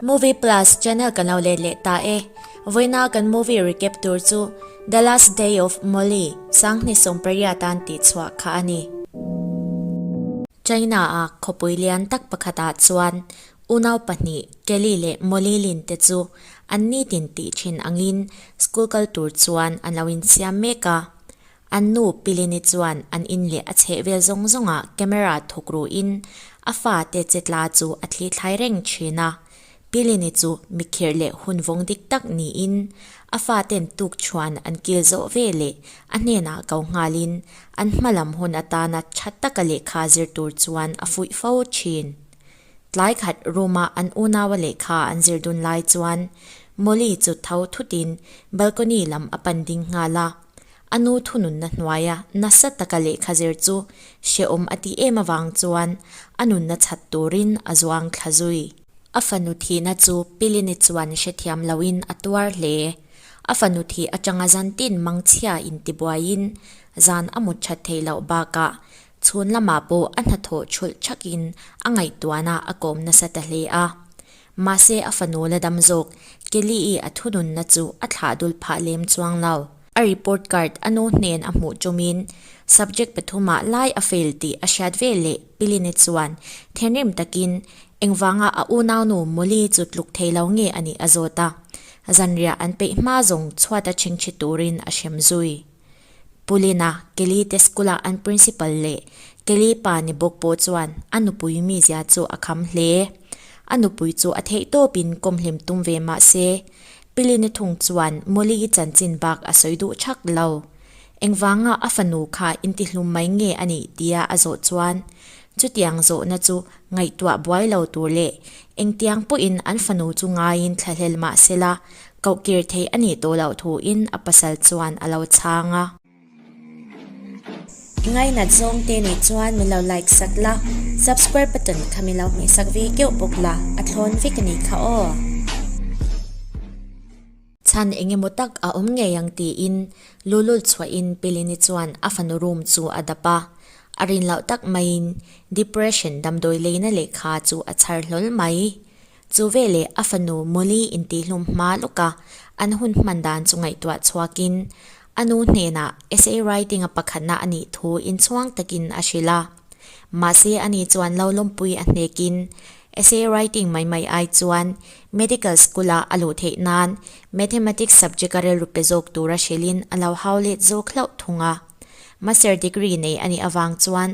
Movie Plus channel kan lo let leh ta e. Vawiina kan movie recap tur chu The Last Day of Molly, Sanghni Sawmpariah tan tih chhuah kha a ni. China a khawpui lian tak pakhat ah chuan unau pahnih Kelly leh Molly Lin te chu an nitin tih thin angin school kal tur chuan an lo insiam mek a. An nu Pilini chuan an in leh a chheh vel zawng zawngah camera thuk ruhin a fa te che tla chu a thlithlai reng thin a. Pilini chu mikhirh leh hun vawng dik tak niin a fa ten tuk thuan an kil zawh ve leh a hnenah ko nghalin an hma lam hun atana tha taka lehkha zir tur chuan a fuih fo thin. Tlai khat room ah an unaua lehkha an zir dun lai chuan Molly chu tho thutin balcony lam a pan ding nghal a. A nu thununna hnuaia nasa taka lehkha zir chu hrehawm a ti em avang chuan a nunna chhat turin a zuang thla zui. A fanu thihna chu Pilini chuan hrethiam loin a tuar hle. A fanu thih atanga Zantin Mangchhia intibuaiin zan a mut that thei loh bakah chhun lamah pawh a hnathawh chhulh thakin a ngaihtuahna a kawm nasa ta hle a. Mahse a fanu la dam zawk. Kelly-i a thununna chu a thlah dul phah lem chuang lo. A report card a nu hnen a hmuh tumin subject pathumah lai a fail tih a hriat ve leh Pili-ni chuan thenrim takin engvanga a unau nu Molly chu tluk thei lo nge a nih a zawt a. Zanriah an peih hma zawng chhuat a chhingchhi turin a hrem zui. Pulina, Kellyte school-ah an principal leh Kelly pa ni bawk pawh chuan a nupui mizia chu a kham hle. A nupui chu a theih tawpin kawmhlem tum ve mah se, Pilina thung chuan Molly-i chanchin bak a sawi duh chak lo. Engvanga a fanu kha intihlum mai nge a nih tia a zawh chuan Chutiang zawhna chu ngaihtuah buai lo tur leh engtiang pawhin an fanu chu ngaiin thlahlel mah sela, kohkir thei a nih tawh loh thuin a pasal chuan a lo chhang a. I ngainat zawng te nih chuan min lo like sat la, subscribe button kha min lo hmeh sak ve keuh bawk la, a thlawn vek a ni kha aw. Chhan eng emaw tak a awm ngei ang tiin lulul chhuahin Pilini chuan a fanu room chu a dap a. A rin loh tak maiin depression damdawi leina lehkha chu a chhar hlawl mai. Chu veleh a fanu Molly intihhlum hma lawka an hun hman dan chu ngaihtuah chhuakin a nu hnenah essay writing-a pakhatna a nih thu inchhuang takin a hrilh a. Mahse ani chuan lo lawmpui a hnekin Essay writing mai mai ai chuan Medical School-a a luh theih nan Mathematics subject-a rilru pe zawk tura hrilhin a lo hau let zawk hlauh thung a. Master degree nei a nih avang chuan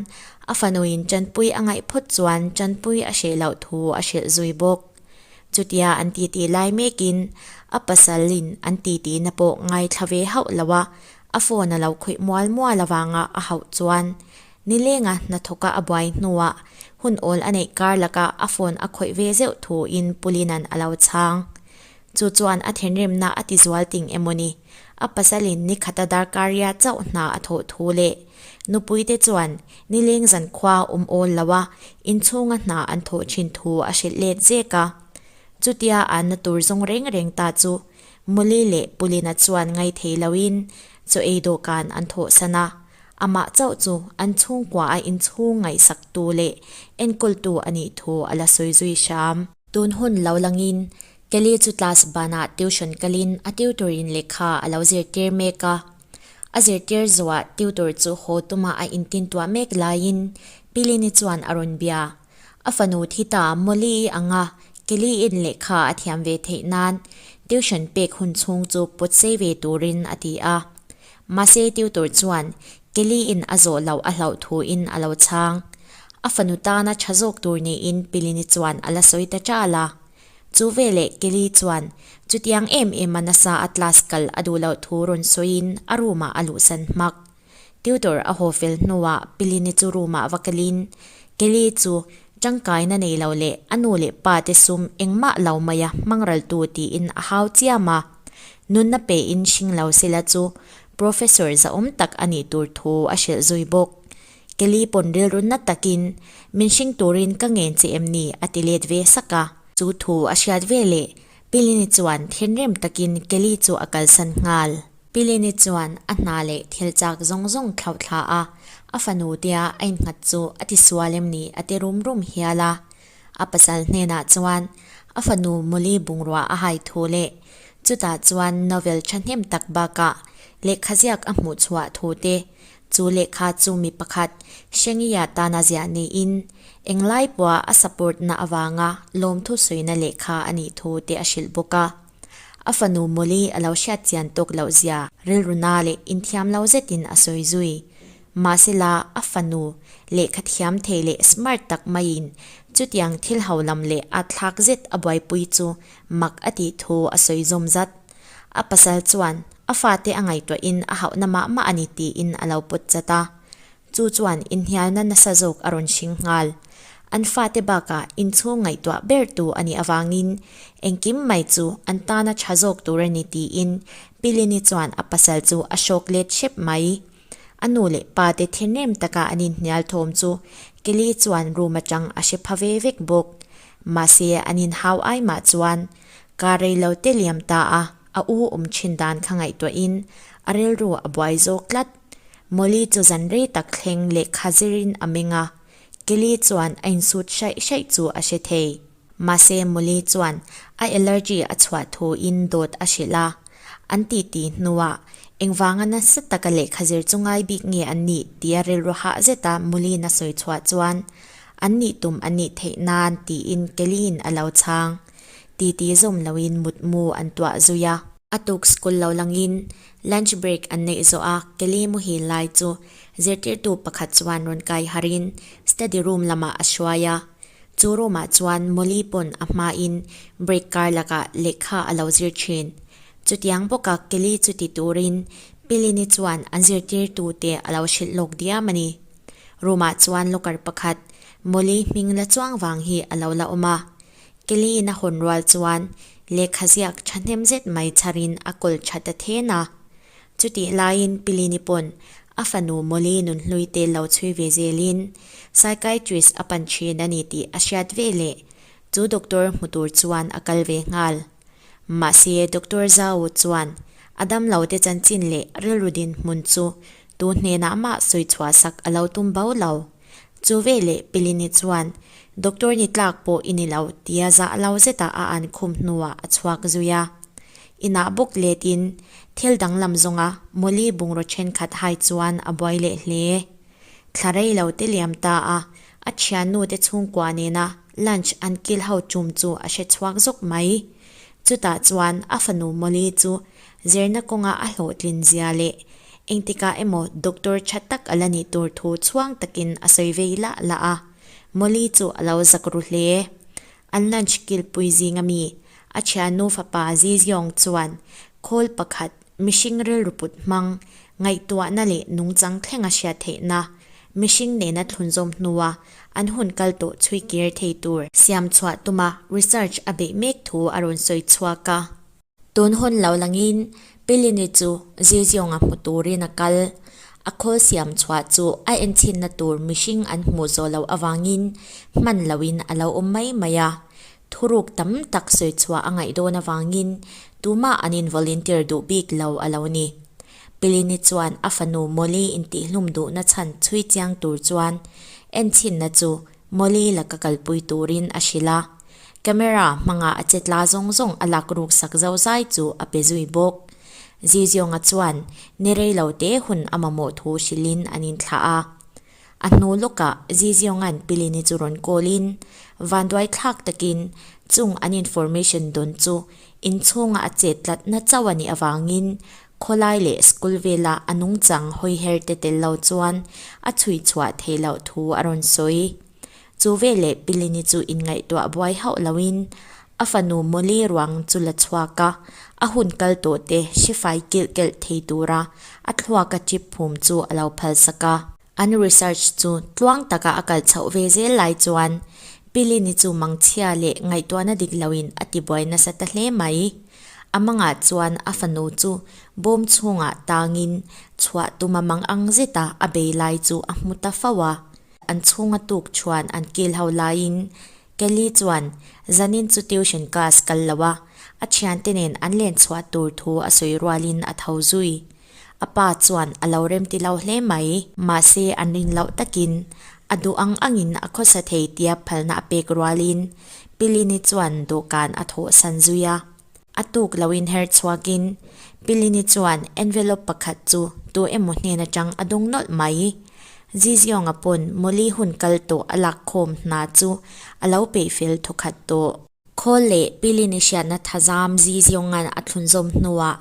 a fanuin Chanpuii a ngaih phawt chuan Chanpuii a hreh loh thu a hrilh zui bawk. Chutia an titi lai mekin a pasalin an titina pawh ngaithla ve hauh lo a, a phone a lo khawih mual mual avanga a hauh chuan Nilenga hnathawka a buai hnuah hun awl a neih kar laka a phone a khawih ve zeuh thu in Pulinan a lo chhang. Chu chuan a thinrimna a ti zual ting emawni, a pasalin nikhata darkaria chauh hna a thawh thu leh nupuite chuan Nileng zan khua awm awl loa inchhunga hna an thawh thin thu a hrilh let zek a. Chutia a na tur zawng reng reng ta chu Muli leh Pulina chuan ngaithei loin chaw ei dawhkan an thawhsan a, amah chauh chu an chhungkuaha inchhung ngaihsaktu leh enkawltu a nih thu a la sawi zui hram. Tun hun lo langin, Kelly chu class banah tuition kalin a tutor-in lehkha a lo zirtir mek a. A zirtir zawhah tutor chu haw tuma a intintuah mek laiin Pilini chuan a rawn bia. A fanu thi ta Molly i ang a, Kelly in lehkha a thiam ve theih nan tuition pek hun chhung chu put sei ve turin a ti a. Mahse tutor chuan Kelly in a zawh loh a hlauh thu in a lo chhang. A fanu tana tha zawk tur niin Pilini chuan a la sawi ta chal a. Chu veleh Kelly chuan chutiang em ema nasa a class kal a duh loh thu rawn sawiin a room ah a luhsan hmak. Tutor a haw fel hnuah Pilini chu roomah va kelin, Kelly chu tangkaina nei lo leh a nu leh pa te sum engmah lo maia hmangral tu tiin a hau chiam a. Nunna pein hring lo sela chu Professor zahawm tak a nih tur thu a hrilh zui bawk. Kelly pawn rilrunna takin, Min hring turin ka ngen che em ni? a ti let ve sak a. Chu thu a hriat veleh Pilini chuan thinrim takin Kelly chu a kalsan nghal. Pilini chuan a hna leh thil chak zawng zawng thlauh thla a, a fanu tia a innghat chu a ti sual em ni a ti rum rum hial a. A pasal hnenah chuan a fanu Molly bungrua a hai thu leh chutah chuan novel thahnem tak bakah lehkha ziak a hmuh chhuah thu te, chu lehkha chu mi pakhat Shengyi-a tana ziah niin eng laipua a support-na avanga lawmthu suina lehkha a nih thu te a hrilh bawk a. A fanu Molly a lo hriat chian tawk loh zia rilruna leh inthiam lo zetin a sawi zui. Mahsela, a fanu lehkha thiam thei leh smart tak maiin chutiang thil haulam leh ahthlak zet a buaipui chu mak a tih thu a sawi zawm zat. A pasal chuan a fate a ngaihtuahin a hauhna mah mah a ni tiin a lo pawt zat a. Chu chuan inhnialna nasa zawk a rawn hring nghal. An fate bakah inchhung ngaihtuah ber tu a nih avangin engkim mai chu an tana tha zawk tur a ni tiin Pilini chuan a pasal chu a shock let hrep mai. A nu leh pate thinrim taka an inhnial thawm chu Kelly chuan rum atang a hre pha ve vek bawk. Mahse an inhau ai mah chuan kaa rei lo te liam ta a, a u awm thin dan kha ngaihtuahin a rilru a buai zawk tlat. Molly chu zan rei tak thleng lehkha zirin a meng a, Kelly chuan a insut hraih hraih chu a hre thei. Mahse Molly chuan a allergy a chhuah thuin dawt a hrilh a, an titi hnuah, Engvanga nasa taka lehkha zir chu ngai bik nge an nih? tia rilru hah zeta Molly-in a sawi chhuah chuan, An nih tum a nih theih nan, tiin Kelly-in a lo chhang. Titi zawm loin mutmu an tuah zui a. A tuk school lo langin Lunch break an neih zawh a, Kelly Muhil lai chu zirtirtu pakhat chuan rawn kaiharin study room lamah a hruai a. Chu roomah chuan Molly pawn a hmain break kar lakah lehkha a lo zir thin. Chutiang bawka Kelly chu ti turin Pilini chuan an zirtirtute a lo hrilh lawk diam a ni. Roomah chuan locker pakhat Molly hming la chuang vang hi a lo la awm a. Kelly-in a hawn rual chuan lehkha ziak thahnem zet mai chhar in a kawl tha ta then a. Chutih laiin Pilini pawn a fanu Molly nun hlui tel lo chhui ve zel in psychiatrist a pan thin a ni tih a hriat veleh chu doctor hmu tur chuan a kal ve nghal. Mahse, Doctor Zhao chuan a damlo te chanchin leh rilru dinhmun chu tu hnenah mah sawi chhuahsak a lo tum bo lo. Chu veleh Pilini chuan Doctor ni tlak pawh i ni lo tia zah lo zeta a an khum hnuah a chhuak zui a. Inah bawk letin thil danglam zawnga Molly bungraw thenkhat hai chuan a buai leh hle. Thla rei lo te liam ta a a thiannu te chhungkua nena Lunch an kil ho tum chu a hre chhuak zawk mai. Chutah chuan a fanu Molly chu zirna kawnga a hlawhtlin zia leh engtikah emaw doctor tha tak a la nih tur thu chhuang takin a sawi vei lah lah a. Molly chu a lo zak ru hle. An lunch kilpui zinga mi a thiannu fapa Ziziyong chuan khawl pakhat Mihring rilru put hmang, ngaihtuahna leh nungchang thlenga hria theihna, mihring nena thlunzawm hnua an hun kal tawh chhui kir thei tur siam chhuah tuma research a beih mek thu a rawn sawi chhuak a. Tun hun lo langin Pilini chu zir ziawnga hmu turin a kal. A khawl siam chhuah chu a enchhinna tur mihring an hmuh zawh loh avangin hman loin a lo awm mai mai a. Thuruk tam tak sawi chhuah a ngaih dawn avangin tuma an in volunteer duh bik lo a lo ni. Pilini chuan a fanu Molly intihhlum duhna chhan chhui chiang tur chuan enchhinna chu Molly laka kalpui turin a hrilh a. Camera hmanga a che tla zawng zawng a lak ruk sak zo zai chu a pe zui bawk. Ziziawnga chuan ni rei lo te hun a mamawh thu hrilhin an in thlah a. A hnu lawkah Ziziongan Pilini chu rawn kawlin vanduai thlak takin chung an information dawn chu inchhunga a chet tlatna chauh a nih avangin khawlai leh school vela a nungchang hawiher te tel lo chuan a chhuihchhuah theih loh thu a rawn sawi. Chu veleh Pilini chu inngaihtuah buai hauh loin a fanu Molly ruang chu la chhuak a, a hun kal tawhte Shifai kilh kelh thei tura a thluaka chip phum chu a lo phalsak a. An research chu tluang taka a kal chhoh ve zel lai chuan Pilini chu mangchhia leh ngaihtuahna dik loin a tibuai nasa ta hle mai. A mangah chuan a fanu chu bawm chhungah tangin chhuah tuma mang ang zeta a bei lai chu a hmu ta fo a, An chhunga tuk chuan an kil ho laiin Kelly chuan, Zanin chu tuition class kal lo a, a thiante nen an len chhuah tur thu a sawi rualin a tho zui. A pa chuan a lo remti lo hle mai. Mahse an rin loh takin a duh ang angin a khawsa thei tia phalna a pek rualin Pilini chuan dawhkan a thawhsan zui a. A tuk lo inher chhuak in Pilini chuan envelope pakhat chu tu emaw hnen atang a dawng nawlh mai i, Ziziong a pawn Molly hun kal tawh a lak khawm hna chu a lo peih fel thaw khat tawh. Khawl leh Pilini hriatna thazam Zizionga a thlun zawm hnu ah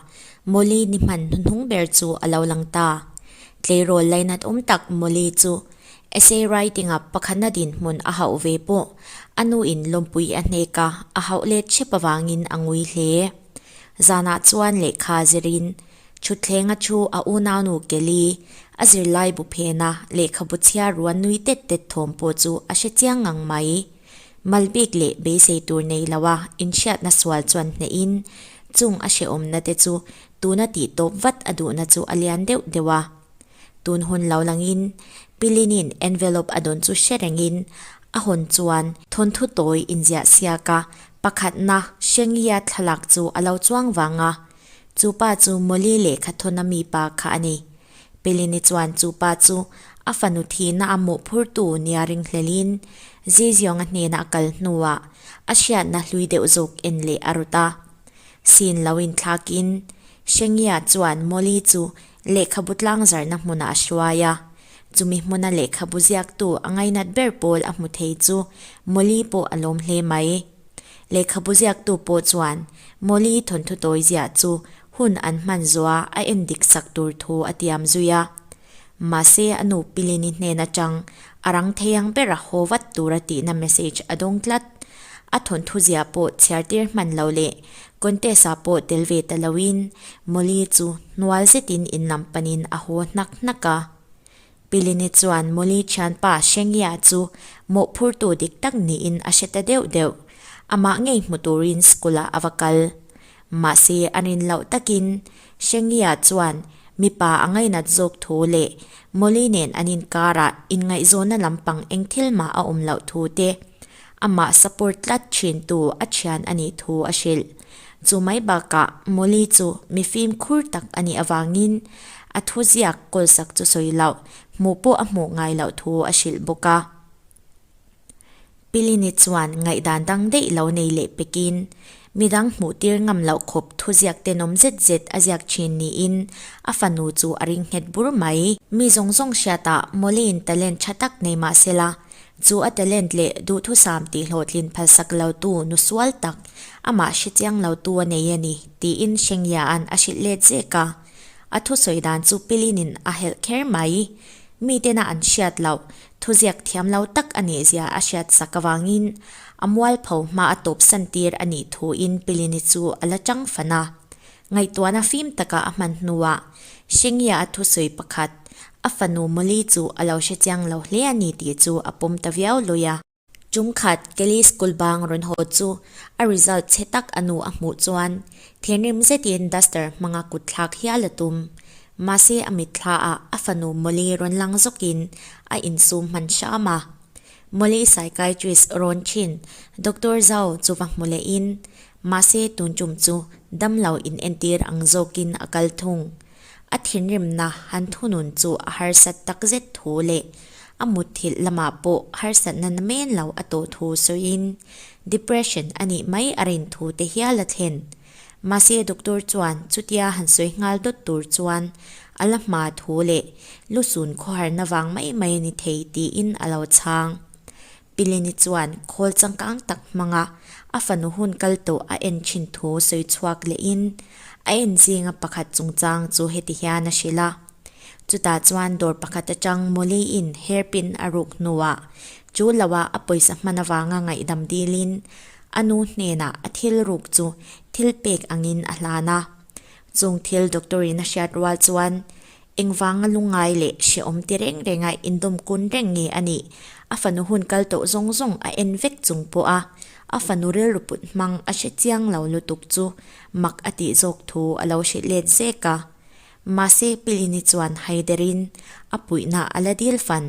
Molly ni hman hnuhnung ber chu a lo lang ta. Tleirawl laina awm tak Molly chu Essay writing a pakhana dinhmun a hauh ve pawh a nu in lawmpui a hneka a hauh let chep avangin a ngui hle. Zanah chuan lehkha zirin thutthleng a thu a unau nu Kelly a zirlai bu phena lehkhabu chhiar rual nui tet tet thawm pawh chu a hre chiang ngang mai. Malbik leh beisei tur nei loha inhriatna sual chuan hnehin chung a hreawmna te chu tuna tihtawp vat a duhna chu a lian deuh deuh a. Tun hun lo langin Pilinin envelope a dawn chu hre rengin a hawn chuan thawnthu tawi inziah siaka pakhatna Shenglia thlalak chu a lo chuang vang a. Chu pa chu Molly lehkha thawna mipa kha a ni. Pilini chuan chu pa chu a fanu thihna a mawhphurtu nia ringhlelhin Zizionga hnena a kal hnuah a hriatna hlui deuh zawk en leh a rut a. Sin lo inthlakin Shenglia chuan Molly chu Lehkhabu tlangzarhna hmuna a hruai a, chumi hmuna lehkhabu ziaktu a ngainat ber pawl a hmu thei chu Molly pawh a lawm hle mai. Lehkhabu ziaktu pawh chuan Molly thawnthu tawizia chu hun an hmanzua a en dik sak tur thu a tiam zui a. Mahse a nu Pilini hnen atang a rang thei ang ber a haw vat tura tihna message a dawng tlat. A thawnthu zia pawh chhiartir hman lo leh Contest ah pawh tel ve ta lo in Molly chu hnual zet in in lam pan in a haw hnak hnak a. Pilini chuan Molly thianpa Shengya chu mawhphur tu dik tak ni in a hre ta deuh deuh. Amah ngei hmu tur in school ah a va kal. Mahse a rin loh tak in Shengya chuan mipa a ngainat zawk thu leh Molly nen an inkar ah inngaihzawnna lampang engthil mah a awm loh thu te Amah support tlat thin tu a thian a nih thu a hrilh. Chu mai bakah Molly chu mifim khur tak a nih avangin a thu ziak kawlsak chu sawi loh, hmuh pawh a hmuh ngai loh thu a hrilh bawk a. Pilini chuan ngaihdan dang daih lo nei leh pekin midang hmuh tir ngam loh khawp thu ziak ten awm zet zet a ziak thin niin a fanu chu a ring nghet bur mai. Mi zawng zawng hriatah Molly-in talent tha tak nei mah sela, Chu a talent leh duhthusam tihhlawhtlin phalsak lotu nu sual tak, amah hrechiang lotu a nei a ni, tiin Shengya-a'n a hrilh let zek a. A thusawi dan chu Pilinin a helh kher mai i, miten a an hriat loh, thuziak thiam lo tak a ni zia a hriat sak avangin, a mualpho hma a tawpsan tir a nih thuin Pilini chu a la changfan a. Ngaihtuahna fim taka a hman hnuah Shengya a thusawi pakhat, a fanu Molly chu a lo hre chiang lo hle a ni tih chu a pawm ta viau lui a. Chungkhat Kelly School bang rawn haw chu a result chhe tak a nu a hmuh chuan thinrim zetin duster hmanga kut thlak hi a la tum. Mahse a mitthlaah a fanu Molly rawn lang zawkin a insum hman hram a. Molly psychiatrist rawn thin Doctor zau chu va hmu lehin Mahse tun tum chu damlo in entir ang zawkin a kal thung. A thinrimna han thunun chu a harsat takzet thu leh a mutthilh lamah pawh harsatna na men lo a tawh thu sawiin depression a nih mai a rin thu te hial a thlen. Mahse doctor chuan chutia han sawi nghal dawt tur chuan a la hma thu leh lusun khawharna vang mai mai a ni thei tiin a lo chhang. Pileni chuan khawl changkang tak hmanga a fanu hun kal tawh a en thin thu sawi chhuak lehin a en zinga pakhat chungchang chu heti hian a hrilh a, Chutah chuan dawr pakhat atang Molly-in hairpin a ruk hnuah chu lohah a pawisa hman avanga ngaihdam dilin a nu hnenah a thil ruk chu thil pek angin a hlan a. Chungthil doctor-in a hriat rual chuan Engvanga lungngai leh hrehawm ti reng renga indawm kun reng nge a nih? A fanu hun kal tawh zawng zawng a en vek chung pawh a, a fanu rilru put hmang a hre chiang lo lutuk chu mak a tih zawk thu a lo hrilh let zek a. Mahse, Pilini chuan haiderin a puihna a la dil fan.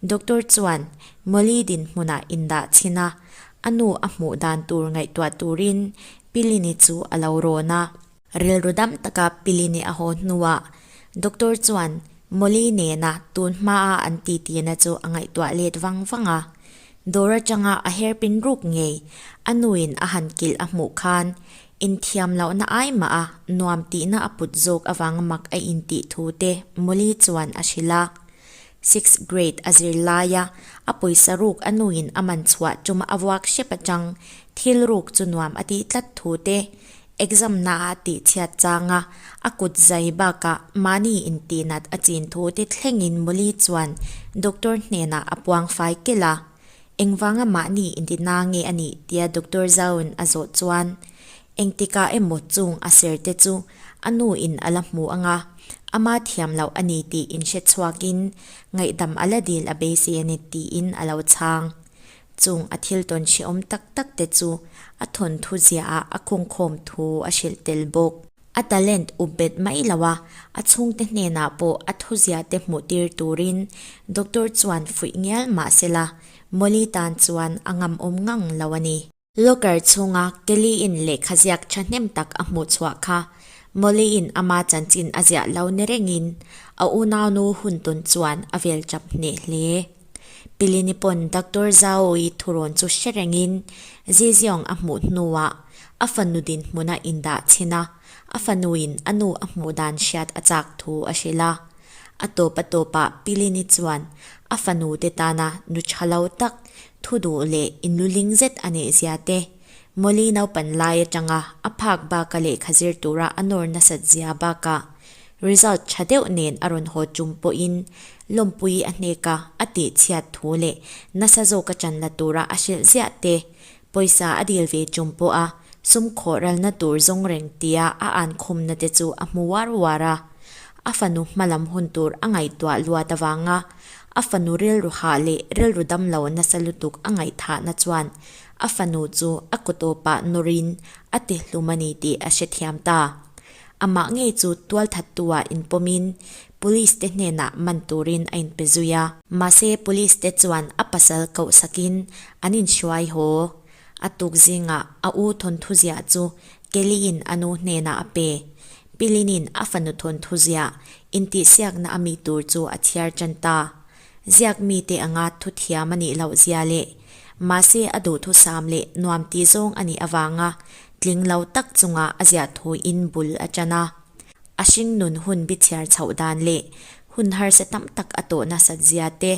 Doctor chuan Molly dinhmunah indah chhin a, a nu a hmuh dan tur ngaihtuah turin Pilini chu a lo rawn a. Rilru dam taka Pili nih a haw hnuah Doctor chuan Molly nena tun hma a an ti tina chu a ngaihtuah let vang vang a. Dawr atanga a herpin ruk ngei, a nuin a han kilh a hmuh khan inthiam lohna ai mah a, nuam tihna a put zawk avanga mak a intih thu te Molly chuan a hrilh a. Six grade a zir laia a pawisa ruk a nuin a man chhuah tum a vuak hrep a chang, thil ruk chu nuam a tih tlat thu te, Exam naah tihchhiat changa a kut zai bakah mahni intihnat a chin thute thlengin Molly chuan doctor hnenah a puang fai kel a. Engvanga mahni intina nge a nih tia doctor zauin a zawh chuan engtikah emaw chung a serte chu a nu in a la hmu anga ama thiam loh a ni tiin hre chhuakin ngaihdam a la dil a beisei a ni tiin a lo chhang. Chung a thil tawn chhiawm tak tak te chu a thawnthu ziaah a kawngkhawm thu a hrilh tel bawk. A talent up bet mai lo a, a chhungte hnenah pawh a thuzia te hmuh tir turin doctor chuan fuih ngial mah se la, Molly tan chuan a ngam awm ngang lo a ni. Locker chhunga Kelly-in lehkha ziak thahnem tak a hmuh chhuah kha Molly-in ama chanchin a ziah lo ni rengin a unaunu hun tawn chuan a vel chap hneh hle. Pili ni pawn Doctor Zhao-i thurawn chu hre rengin Zi Ziong a hmuh hnuah a fanu dinhmuna indah chhin a, a fanuin a nu a hmuh dan hriat a chak thu a hrilh a. A tawpa tawpah Pili ni chuan a fanute tana nu tha lo tak, thu duh leh inluling zet a nehzia te, Molly naupan lai atanga a phak baka lehkha zir tura a nawr nasat zia bakah, result tha deuh nen a rawn haw tum pawhin Lawmpui a hneka a tih chhiat thu leh nasa zawk a chan la tura a hrilh ziah te, pawisa a dil ve tum pawha sum khawhralna tur zawng reng tia a an khumna te chu a hmu uar uar a. A fanu hma lam hun tur a ngaihtuah luat avanga a fanu rilru hah leh rilru dam lo nasa lutuk a ngaihthahna chuan a fanu chu a kawtawpah nawrin a ti hlum a ni tih a hrethiam ta. Amah ngei chu tual that tua inpawmin Police te hnenah man turin a inpe zui a. Mahse Police te chuan a pasal koh sakin an inhruai haw. A tuk zingah a u Thawnthuziah chu Kelly-in a nu hnenah a pe. Pilinin a fanu Thawnthuziah intihsiakna a mi tur chu a thiar tan ta. Ziak mite anga thu thiam a nih loh zia leh mahse a duhthusam leh nuam tih zawng a nih avanga Tling lo tak chungah a ziah thuin bul a ṭan a, a hringnun hun bichhiar chhoh dan leh hun harsa tam tak a tawh nasat zia te,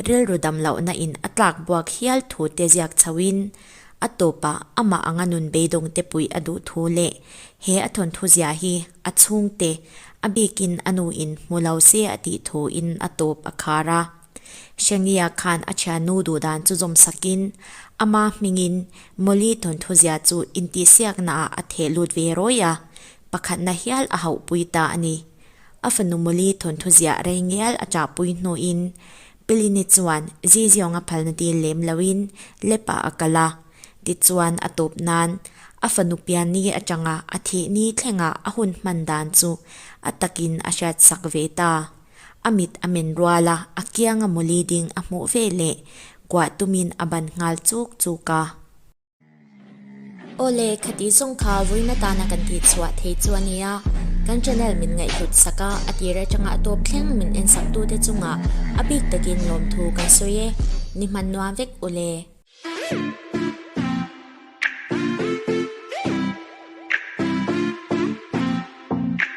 rilru dam lohna in a tlak buak hial thu te ziak chhoin, a tawpah amah anga nun beidawng te puih a duh thu leh he a thawnthu zia hi a chhungte a bikin a nu in hmu lo se a tih thuin a tawp a khar a. Shania khan a thiannu duhdan chu zawm sakin ama hmingin Molly Thawnthauzia chu intihsiaknaah a theh lut ve rawi a, pakhatna hial a hauhpui ta a ni. A fanu Molly Thawnthauzia rei ngial a ṭahpui hnuin Pilini chuan Ziziong a phalna tir lem loin Lepa a kal a, tichuan a tawp nan a fanu Pianni aṭanga a thihni thlengah a hun hman dan chu a takin a hriatsak ve ta. A mit a men rual a, a kianga mawli ding a hmuh ve le. Kuah tumin a ban nghal chuk chuk a. Awle, khatih zawng kha vuina tan a kan tih chhuah thei chu a nia. Kan channel min ngaihhlut sak a, a tir atanga tawp thleng min en saktute chungah a bik takin lawmthu kan sawi e. Ni hman nuam vek u le.